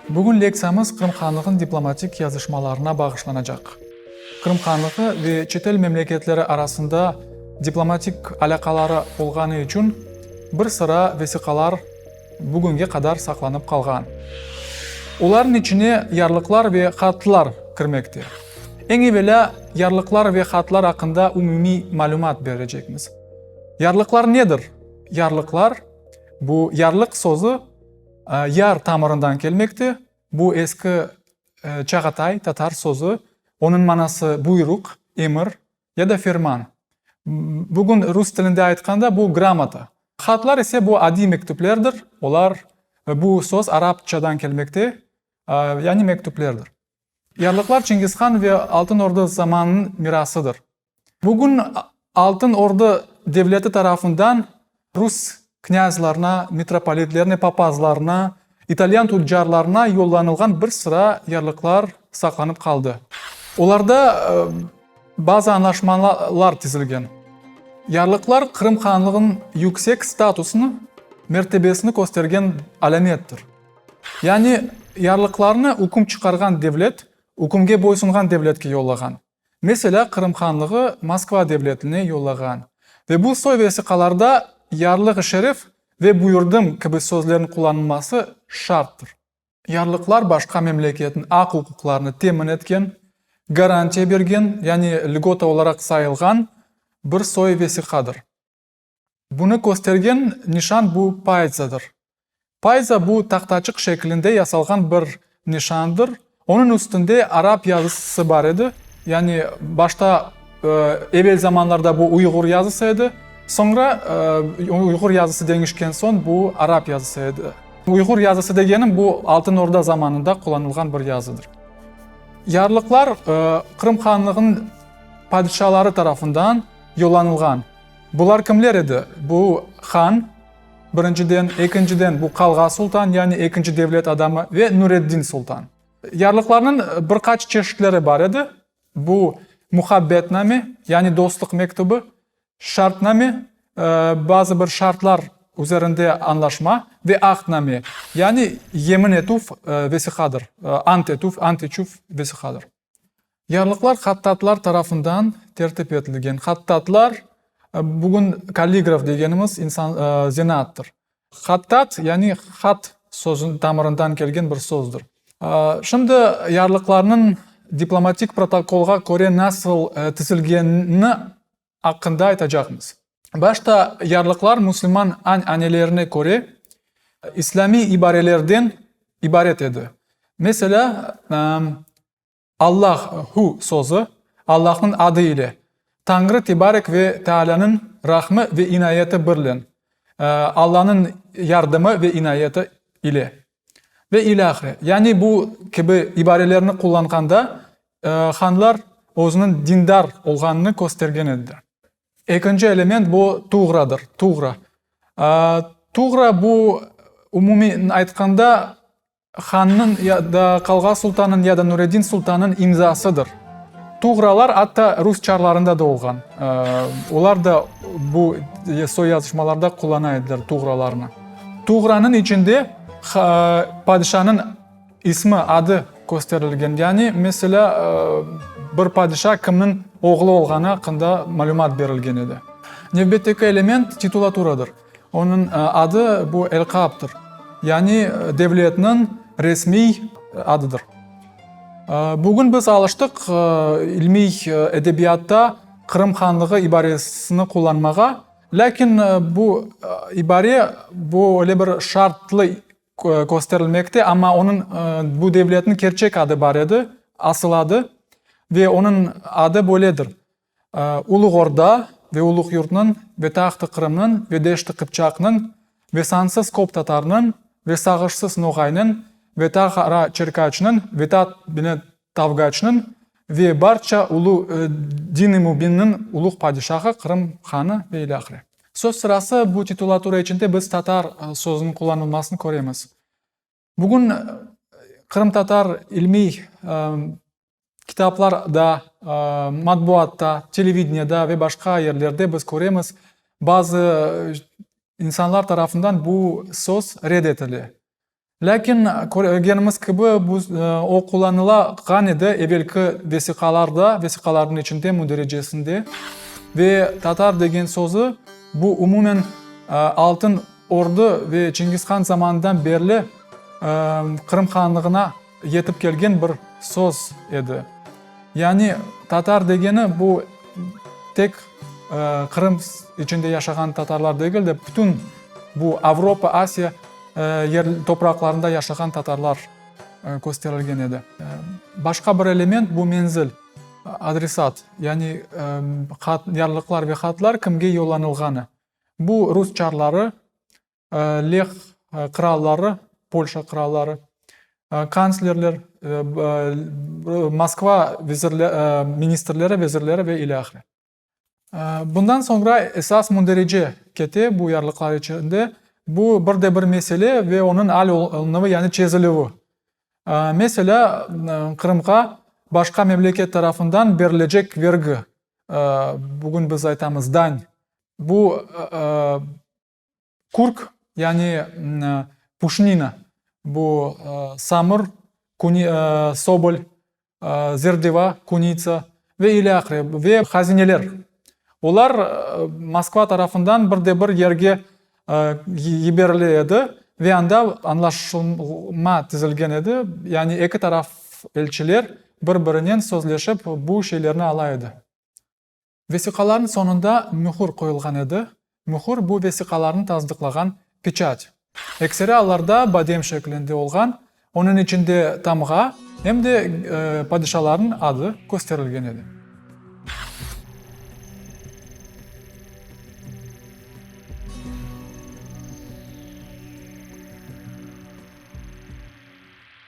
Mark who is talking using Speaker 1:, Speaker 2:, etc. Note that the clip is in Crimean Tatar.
Speaker 1: Bugün lektsiyamız Qırım Hanlığın diplomatik yazışmalarına bağışlanacaq. Qırım Hanlığı ve çetel memleketleri arasında diplomatik alâqaları olğanı içün bir sıra vesiqalar, bugünge qadar saqlanıp qalğan. Olarnıñ içine yarlıqlar ve hatlar kirmekte. Eñ evelâ, yarlıqlar ve hatlar aqqında umumiy malümat berecekmiz. Yarlıqlar nedir? Yarlıqlar, bu yarlıq sözü yar tamırından kelmekte, bu eski Çağatay tatar sözü, onıñ manası buyruq, emir, Ya da ferman. Bugün rus tilinde aytqanda bu gramota. Hatlar ise bu adiy mektüplerdir, olar, bu söz arapçadan kelmekte, yani mektüplerdir. Yarlıqlar Çingizhan ve Altın Orda zamanınıñ mirasıdır. Bugün Altın Orda devleti tarafından Rus knyazlarına, mitropolitlerine, papazlarına, italyan tüccarlarına yollanılğan bir sıra yarlıqlar saqlanıp qaldı. Olarda bazı añlaşmalar tizilgen. Yarlıqlar Qırım Hanlığınıñ yüksek statusını, mertebesini köstergen alâmettir. Yani yarlıqlarını üküm çıqarğan devlet, ükümge boysunğan devletke yollağan. Meselâ, Qırım Hanlığı Moskva devletine yollağan ve bu soy vesiqalarda Yarlığı Şerif ve Buyurdım kibi sözlerniñ qullanılması şarttır. Yarlıqlar başqa memleketniñ aq-uquqlarını temin etken, garantiya bergen, yani lgota olaraq sayılğan bir soy vesiqadır. Bunı köstergen nişan bu paytsadır. Paytsa bu tahtaçıq şeklinde yasalğan bir nişandır, onıñ üstünde arap yazısı bar edi, yani başta evel zamanlarda bu uyğur yazısı edi, soñra uyğur yazısı deñişken soñ bu arap yazısı edi. Uyğur yazısı degenim bu Altın Orda zamanında qullanılğan bir yazıdır. Yarlıqlar Qırım Hanlığınıñ padişaları tarafından yollanılğan. Bular kimler edi? Bu, han, birinciden, ekinciden, bu qalğa sultan, yani ekinci devlet adamı, ve Nureddin sultan. Yarlıqlarnıñ bir qaç çeşitleri bar edi, bu, muhabbetname, yani dostluq mektübi, şartname, bazı bir şartlar üzerinde añlaşma, ve ahdname, yani yemin etüv vesiqadır, ant etüv, ant içüv vesiqadır. Yarlıqlar hattatlar tarafından tertip etilgen. Hattatlar, bugün kalligraf degenimiz insan, zanaattır. Hattat, yani hat sözüniñ tamırından kelgen bir sözdür. Şimdi yarlıqlarnıñ diplomatik protokolğa köre nasıl tizilgenini aqqında aytacaqmız. Başta yarlıqlar müslüman añ-anelerine köre islâmiy ibarelerden ibaret edi. Meselâ, Allah, Hu, sözü, Allahnıñ adı ile, Tañrı tebarek ve teâlânıñ rahmı ve inayeti birlen, Allanıñ yardımı ve inayeti ile. Ve ilâhre, yani bu kibi ibarelerni qullanğanda hanlar özüniñ dindar olğanını köstergen ediler. Ekinci element bu tuğradır, tuğra. Tuğra bu umumiy aytqanda hannıñ ya da qalğa sultanıñ ya da Nureddin sultanıñ imzasıdır. Tuğralar atta rus çarlarında da olğan. Olar da bu soy yazışmalarda qullana ediler tuğralarnı. Tuğranıñ içinde padişanıñ ismi, adı kösterilgen. Yani, meselâ, bir padişa kimniñ oğlu olğanı aqqında malümat berilgen edi. Nevbetteki element titulaturadır. Onıñ adı, bu elqaptır. Yani, devletniñ resmiy adıdır. Bugün biz alıştıq ilmiy edebiyatta Qırım Hanlığı ibaresini qullanmağa. Lâkin bu ibare, bu öyle bir şartlı kösterilmekte, amma onıñ, bu devletniñ kerçek adı bar edi, asıl adı, ve onıñ adı böyledir, Uluğ Orda ve Uluğ Yurtnıñ ve Taht-ı Qırımnıñ ve Deşt-i Qıpçaqnıñ ve sansız köp tatarnıñ ve sağışsız Noğaynıñ ve Tağara-Çerkaçnıñ ve ta bile Tavgaçnıñ ve barça ulu dini mübinniñ uluğ padişahı, Qırım hanı ve ile ahire. Söz sırası bu titulatura içinde biz tatar sözüniñ qullanılmasını köremiz. Bugün qırımtatar ilmiy kitaplarda, matbuatta, televideniede ve başqa yerlerde biz köremiz, bazı insanlar tarafından bu söz red etile. Lâkin, körgenimiz kibi, bu o qullanıla ğan edi evelki vesiqalarda, vesiqalarnıñ içinde, mündericesinde. Ve tatar degen sözü, bu umumen Altın Ordu ve Çingizhan zamanından berli Qırım Hanlığına, Yetip kelgen bir söz edi. Yani tatar degeni bu tek Qırım içinde yaşağan tatarlar degil de, bütün bu Avropa, Asiya topraqlarında yaşağan tatarlar kösterilgen edi. Başqa bir element, bu menzil, adresat, yani yarlıqlar ve hatlar kimge yollanılğanı. Bu rus çarları Leh qıralları, Polşa qıralları, kanslerler, Moskva ministrleri, vezirleri ve ile ahire. Bundan soñra esas münderece kete bu yarlıqlar içinde, bu bir de bir mesele ve onıñ al olunuvı, yani çezilüvi. Meselâ, Qırımğa başqa memleket tarafından berilecek vergi, bugün biz aytamız, dañ, bu Kurk, yani puşnina, bu samur, sobol, zerdeva, kunitsa ve ile ahire ve hazineler, olar Moskva tarafından bir de bir yerge yiberile edi ve anda añlaşılma tizilgen edi, yani eki taraf elçiler bir birinen sözleşip bu şeylerni ala edi. Vesiqalarnıñ soñunda mühür qoyulğan edi, mühür, bu vesiqalarnı tasdıqlağan peçat. Ekseri allarda badem şeklinde olğan, onıñ içinde tamğa, em de padişalarnıñ adı kösterilgen edi.